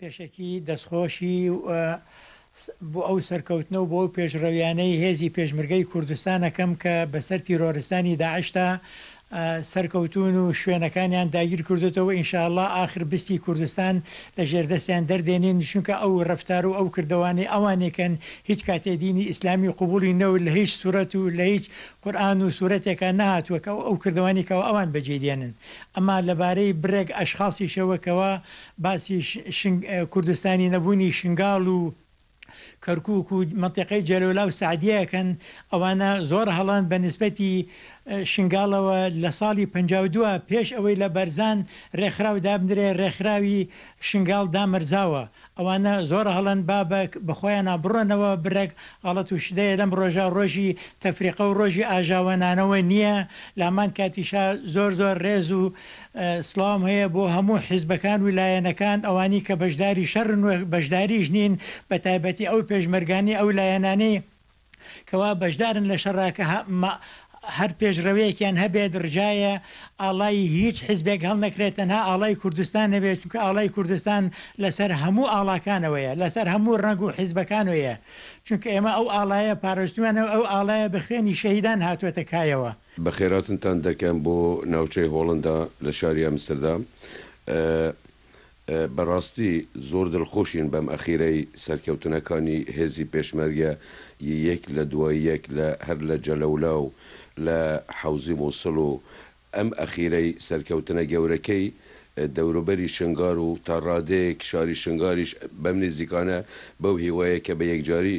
پێشەکی دەستخۆشی بۆ ئەو سەرکەوتنە و بۆ ئەو پێشڕەویانەی هێزی پێشمرگەی کوردستان ئەکەم کە بەسەر تیرۆرستانی داعشدا سەرکەوتوون و شوێنەکانیان داگیر کردوتەوە ئینشاءاللە ئاخر بستی کوردستان لە ژێر دەستیان دەردێنین چونکە ئەو رەفتار و ئەو کردەوانەی ئەوانێکن هیچ کاتێ دینی ئیسلامی قبوڵی نەوت لە هیچ سورەت و لە هیچ قورئان و سورەتێکا نەهاتووە کە ئەو کردەوانی کەوا ئەوان بەجێی دێنن ئەما لەبارەی بڕێک ئەشخاصیشەوە کەوا باسی کوردستانی نەبوونی شنگاڵ و کەرکوک و مەنتیقەی جەلەولا و سەعدیە ئەکەن، ئەوانە زۆر هەڵەن بە نیسبەتی شنگاڵەوە لە ساڵی پەنجا و دوو پێش ئەوەی لە بەرزان رێکخراو دابنرێ رێکخراوی شنگاڵ دامەرزاوە، ئەوانە زۆر هەڵەن با بە خۆیانا بڕۆنەوە برەک غەڵەت و شدەیە لەم رۆژە رۆژی تەفریقە و رۆژی ئاژاوەنانەوە نیە لامان کاتیشا زۆر زۆر رێز و سڵاوم هەیە بۆ هەموو حیزبەکان و لایەنەکان ئەوانی کە بەشداری شەڕن و بەشداریش نین بە تایبەتی ئەو پێشمەرگانەی ئەو لایەنانەی کەوا بەشدارن لە شەڕا کە هە مە هەر پێشڕەوێکیان هەبێت ڕجایە ئاڵای هیچ حیزبێک هەڵنەکرێت تەنها ئاڵای کوردستان نەبێت چونکە ئاڵای کوردستان لەسەر هەموو ئاڵاکانەوەیە لەسەر هەموو ڕەنگ و حیزبەکانەوەیە چونکە ئێمە ئەو ئاڵایە پارستویانە و ئەو ئاڵایە بە خوێنی شەهیدان هاتووەتە کایەوە بەخێرهاتنتان دەکەم بۆ ناوچەی هۆڵندا لە شاری ئەمستردام ئە ئە بەراستی زۆر دلخۆشین بەم ئەخیرەی سەرکەوتنەکانی هێزی پێشمەرگە ی یەک لە دوای یەک لە هەر لە جەلەولا و لە حەوزی موسڵ و ئەم ئەخیرەی سەرکەوتنە گەورەکەی دەوروبەری شنگار و تا رادەیەک شاری شنگاریش بەم نیزیکانە بەو هیوایە کە بە یەکجاری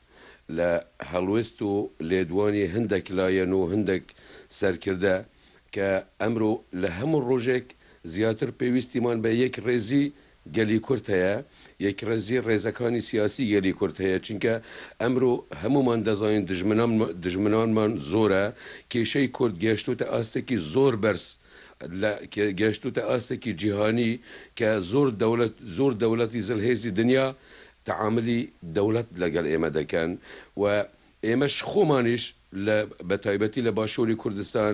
لە هەڵوێست و لێدوانی هەندەک لایەن و هەندەک سەرکردە کە ئەمرۆ لە هەموو ڕۆژێک زیاتر پێویستیمان بە یەک ڕێزی گەلی کورد هەیە، یەک ڕێزی ڕێزەکانی سیاسی گەلی کورد هەیە چونکە ئەمرۆ هەموومان دەزانین دژمنانمان زۆرە، کێشەی کورد گەشتوتە ئاستێکی زۆر بەرز لە گەشتوتە ئاستێکی جیهانی کە زۆر دەولەت زۆر دەولەتی زلهێزی دنیا تەعامولی دەوڵەت لەگەڵ ئێمە دەکەن و ئێمەش خۆمانیش لە بەتایبەتی لە باشووری کوردستان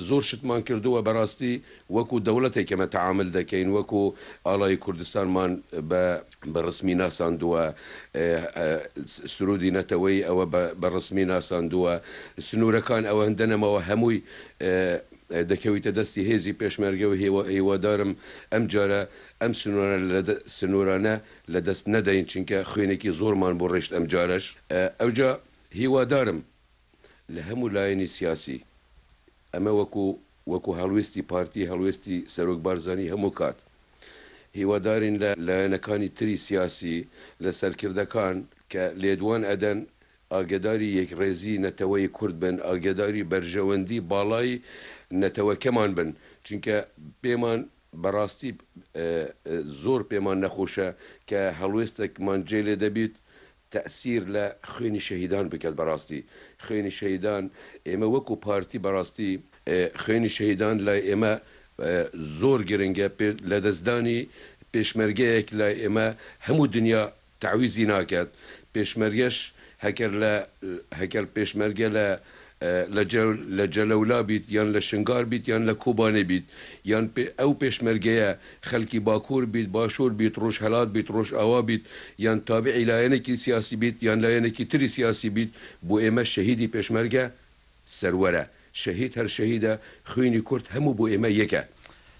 زۆر شتمان کردووە بەڕاستی وەکوو دەوڵەتێک ئێمە تەعامول دەکەین وەکوو ئاڵای کوردستانمان بە ڕسمی ناساندووە سروودی نەتەوەیی ئەوە بە ڕسمی ناساندووە سنوورەکان ئەوەندە نەماوە هەمووی دەکەویتە دەستی هێزی پێشمەرگە و هیوادارم ئەمجارە ئەم سنورانە لە دەست نەدەین چونکە خوێنێکی زۆرمان بۆ ڕێشت ئەمجارەش ئەوجا هیوادارم لە هەموو لایەنی سیاسی ئەمە وەکو وەکو هەڵوێستی پارتی هەڵوێستی سەرۆک بارزانی هەموو کات هیوادارین لە لایەنەکانی تری سیاسی لە سەرکردەکان کە لێدوان ئەدەن ئاگەداری یەکڕێزی نەتەوەی کورد بن ئاگەداری بەرژەوەندی باڵای نەتەوەکەمان بن چونکە پێمان بەڕاستی زۆر پێمان نەخۆشە کە هەڵوێستەکمان جێ لێ دەبیت تەئسیر لە خوێنی شەهیدان بکەت بەڕاستی خوێنی شەهیدان ئێمە وەکو پارتی بەڕاستی خوێنی شەهیدان لای ئێمە زۆر گرنگە لەدەستدانی پێشمەرگەیەک لای ئێمە هەموو دنیا تەعویزی ناکەت پێشمەرگەش هەکەر لە هەکەر پێشمەرگە لە لە جەو لە جەلەولا بیت یان لە شنگار بیت یان لە کوبانی بیت یان پێ ئەو پێشمەرگەیە خەلکی باکور بیت باشور بیت روژهەلات بیت روژئاوا بیت یان تابعی لایەنێکی سیاسی بیت یان لایەنێکی تری سیاسی بیت بۆ ئێمە شەهیدی پێشمەرگە سەروەرە شەهید هەر شەهیدە خوینی کورد هەموو بۆ ئێمە یەکە.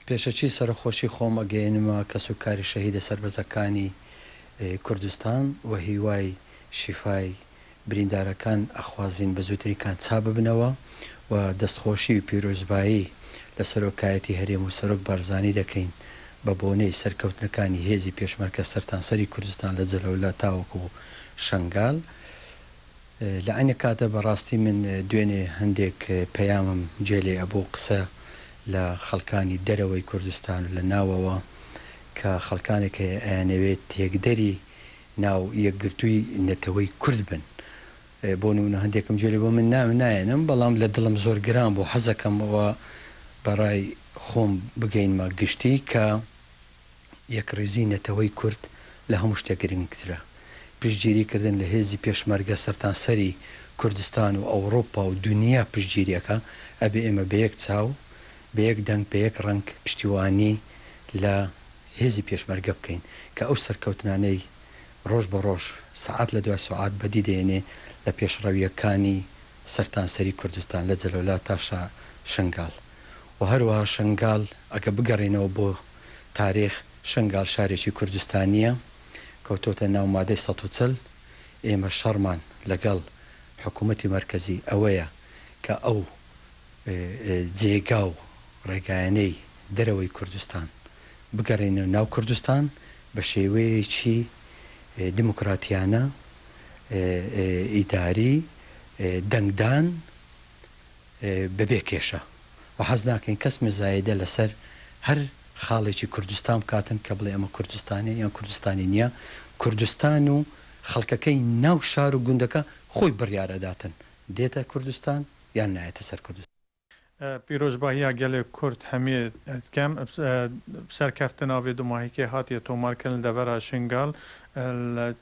پێشەچی سەرەخۆشی خۆم ئەگەینمە کەسو کاری شەهیدە سەربەزەکانی کوردستان وە هیوای شیفای بریندارەکان ئەخوازین بە زوترین کات چا ببنەوە و دەست خۆشی و پیرۆزبایی لە سەرۆکایەتی هەرێم و سەرۆک بارزانی دەکەین بە بۆنەی سەرکەوتنەکانی هێزی پێشمەرگە سەرتانسەری کوردستان لە جەلەولا تاوەکو شەنگال. لە عەینی کاتدا بە ڕاستی من دوێنێ هەندێک پەیامم جێ لێ ئەبوو قسە لە خەڵکانی دەرەوەی کوردستان و لە ناوەوە کە خەڵکانێک هەیە ئەیانەوێت تێکدەری ناو یەکگرتووی نەتەوەی کورد بن بۆ نموونە هەندێکم جێ لێ بوو من ناوی نایەنم بەڵام لە دڵم زۆر گران بوو حەزەکەم ئەوە بە ڕای خۆم بگەینمە گشتی کە یەکڕیزیی نەتەوەی کورد لە هەموو شتێک گرنگترە. پشتگیری کردن لە هێزی پێشمەرگە سەرتانسەری کوردستان و ئەوڕوپا و دونیا پشتگیری ئەکا، ئەبێ ئێمە بە یەک چاو، بە یەک دەنگ، بە یەک ڕەنگ پشتیوانی لە هێزی پێشمەرگە بکەین کە ئەو سەرکەوتنانەی ڕۆژ بە ڕۆژ، سەعات لە دوای سەعات بەدی دەێنێ لە پێشڕەوییەکانی سەرتانسەری کوردستان لە جەلەولا تا شنگال و هەروەها شنگال ئەگە بگەڕێینەوە بۆ. تاریخ، شنگال شارێکی کوردستانییە کەوتۆتە ناو مادەی سەد و چل، ئێمە شەڕمان لەگەڵ حکوومەتی مەرکەزی ئەوەیە کە ئەو جێگا و ڕێگایانەی دەرەوەی کوردستان بگەڕێنێ ناو کوردستان بە شێوەیەکی دیموکراتیانە، ئیداری، دەنگدان بەبێ کێشە و حەز ناکەین کەس مزایدە لەسەر هەر خاڵێکی کوردستان بکاتن کە بڵێ ئەمە کوردستانە یان کوردستانی نییە، کوردستان و خەڵکەکەی ناو شار و گوندەکە خۆی بڕیار ئەداتن دێتە کوردستان یان نایەتە سەر کوردستان. پیرۆزباهیا گەلێ کورد هەمیێ دکەم سەرکەفتن ئاڤێ دو ماهیکێ هاتیە تۆمارکردن لە دەڤەرا شنگال لە.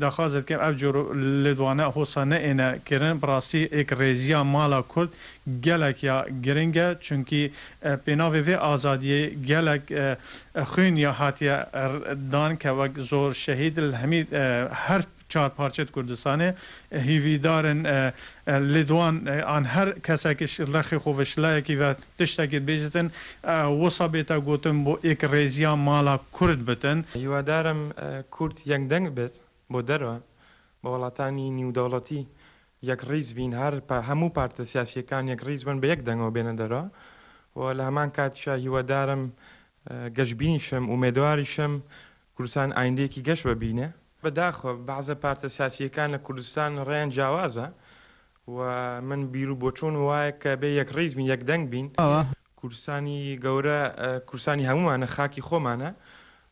داخوازت کەم ئەف جۆر لێدوانە هۆسە نەێنە کرن بڕاستی ئێک ڕێزیا مالا کورد گەلەک یا گرنگە چونکی پێناڤێ ڤێ ئازادیێ گەلەک خوێن یا هاتیە دان کە وەک زۆر شەهید ل هەمی هەر چار پارچەێ کوردستانێ هیڤیدارن لێدوان ئان هەر کەسەکش ڕەخێ خوڤش لایەکی ڤە تشتە گێت بێجتن وسە بێتە گۆتن بۆ ئێک رێزیا مالا کورد بتن. هیوادارم کورد یەک دەنگ بێت بۆ دەرە بە وڵاتانی نیودەوڵەتی یەک ڕیز بین هەر پە هەموو پارتە سیاسیەکان یەک ڕیز بن بە یەک دەنگەوە بێنە دەرە و لە هەمان کاتیشا هیوادارم گەشبینیشم ئومێدواریشم کوردستان ئایندەیەکی گەش بە بینێ. بەداخەوە بەعزە پارتە سیاسیەکان لە کوردستان ڕێیان جیاوازە و من بیرو بۆچون وایە کە بێ یەک ڕیز بین یەک دەنگ بین کوردستانی گەورە کوردستانی هەمومانە خاکی خۆمانە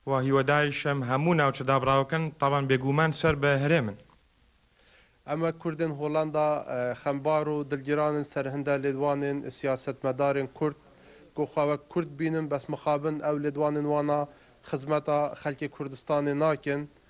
و هیوەداریشم هەموو ناوچە دابڕاوەکەن تابان بێ گوومان سەر بە هەرێمن. ئەمە کوردن هۆلەندا خەمبار و دلگیرانن سەر هندە لێدوانێن سیاسەتمەدارێن کورد گۆ خۆ وەک کورد بینن بەس مخابن ئەو لێدوانێن وانا خزمەتا خەلکێ کوردستانێ ناکێن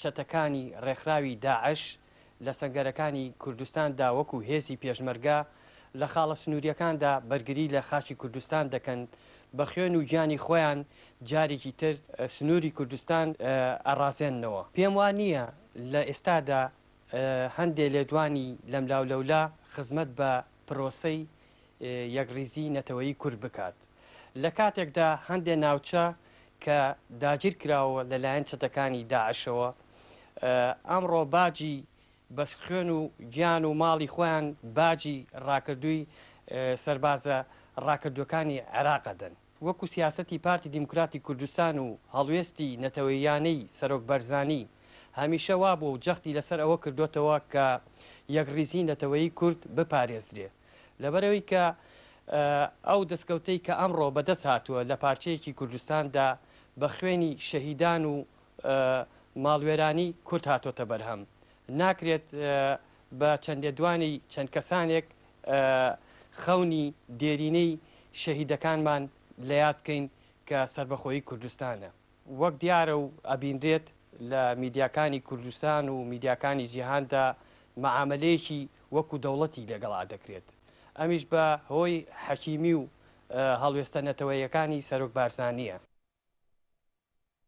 چەتەکانی ڕێکخراوی داعش لە سەنگەرەکانی کوردستاندا وەکو هێزی پێشمەرگە لە خاڵە سنوورییەکاندا بەرگری لە خاکی کوردستان دەکەن، بە خوێن و گیانی خۆیان جارێکی تر سنووری کوردستان ئەڕازێننەوە. پێم وا نییە لە ئێستادا هەندێ لێدوانی لەملاولەولا خزمەت بە پرۆسەی یەکڕیزیی نەتەوەیی کورد بکات، لە کاتێکدا هەندێ ناوچە کە داگیر کراوە لە لایەن چەتەکانی داعشەوە، ئەمڕۆ باجی بە خوێن و گیان و ماڵی خۆیان باجی ڕاکردووی سەربازە ڕاکردووەکانی عێراق ئەدەن. وەکو سیاسەتی پارتی دیموکراتی کوردستان و هەڵوێستی نەتەوەییانەی سەرۆک بەرزانی هەمیشە وابووە و جەختی لەسەر ئەوە کردۆتەوە کە یەکڕیزی نەتەوەیی کورد بپارێزرێ لەبەرئەوەی کە ئەو دەسکەوتەی کە ئەمڕۆ بەدەست هاتووە لە پارچەیەکی کوردستاندا بە خوێنی شەهیدان و ماڵوێرانی کورد هاتۆتە بەرهەم ناکرێت بە چەند لێدوانی چەند کەسانێک خەونی دێرینەی شەهیدەکانمان لە یاد بکەین کە سەربەخۆیی کوردستانە. وەک دیارە و ئەبینرێت لە میدیاکانی کوردستان و میدیاکانی جیهاندا مەعامەلەیەکی وەکو دەوڵەتی لەگەڵا دەکرێت. ئەمیش بە هۆی حەکیمی و هەڵوێستە نەتەوەیەکانی سەرۆک بارزانییە.